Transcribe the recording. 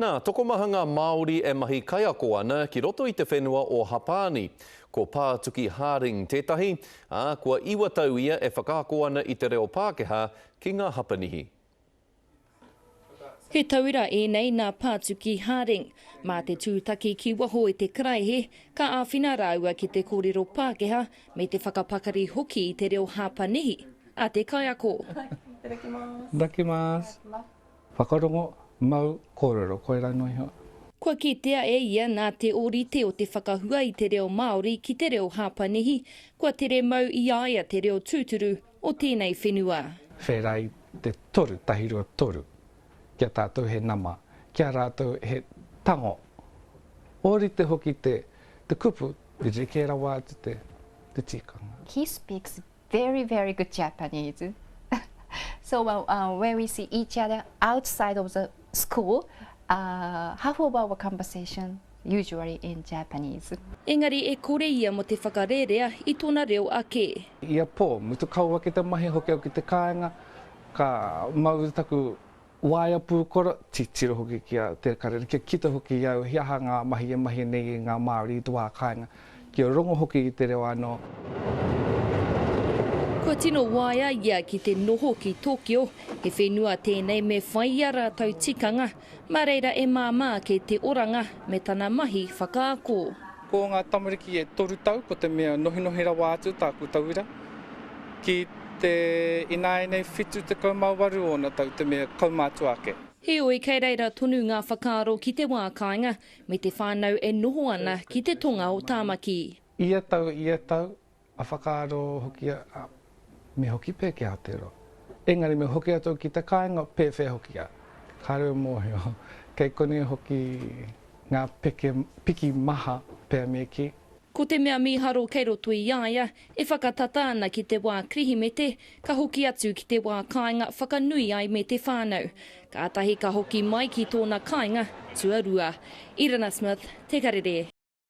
Nā, tokomaha ngā Māori e mahi kaiako ana ki roto i te whenua o Hapāni. Ko Pātuki Harding tētahi, ā, kua iwa tau ia e whakaako ana i te reo Pākehā ki ngā Hapanihi. He tauira ēnei nā Pātuki Harding. Mā te tūtaki ki waho i te karaehe, ka āwhina rāua ki te kōrero Pākehā me te whakapakari hoki i te reo Hapanihi a te kaiako. Itadakimasu. Whakarongo, mau, kōrero, koirā noa iho. Kua kitea e ia nā te ōrite o te whakahua i te reo Māori ki te reo Hāpanihi, kua tere mau i a ia te reo tūturu o tēnei whenua. Whēra i te toru, tahi rua toru, ki a tātou he nama, ki a rātou he tango. Ōrite hoki te kupu, rerekē rawa atu te tikanga. He speaks Very very good Japanese So where we see each other outside of the school Half of our conversation usually in Japanese Engari e kore ia mo te whakarerea i tona reo ake. Ia po, mutu kau ake te mahi hoki au ki te kaenga, ka mau taku. Waea pūkoro, titiro hoki ki a Te Karere, kia kita hoki i au he aha ngā mahi e mahia nei e ngā Māori i te wā kāinga, kia rongo hoki i te reo anō. Kua tino waea ia ki te noho ki Tokyo, he whenua tēnei me whai i a rātou tikanga, mā reira e māmā ake te oranga me tana mahi whakaako. Ko ngā tamariki e toru tau ko te mea nohinohi rawa atu tāku tauira. Ki te ināianei 78 ōna tau te mea kaumātua ake. Heoi, kei reira tonu ngā whakaaro ki te wā kāinga me te whānau e noho ana ki te tonga o Tāmaki. Ia tau ia tau, A whakaaro hoki a, a, me hoki pea ki Aotearoa. Engari me hoki atu au ki te kāinga, pēwhea hoki a, kāre au mōhio, kei konei hoki ngā peke, piki maha pea me kī. Ko te mea mīharo kei roto i a ia, e whakatata ana ki te wā Kirihimete, ka hoki atu ki te wā kāinga whakanui ai me te whānau. Kātahi ka hoki mai ki tōna kāinga tuarua. Irina Smith, Te Karere.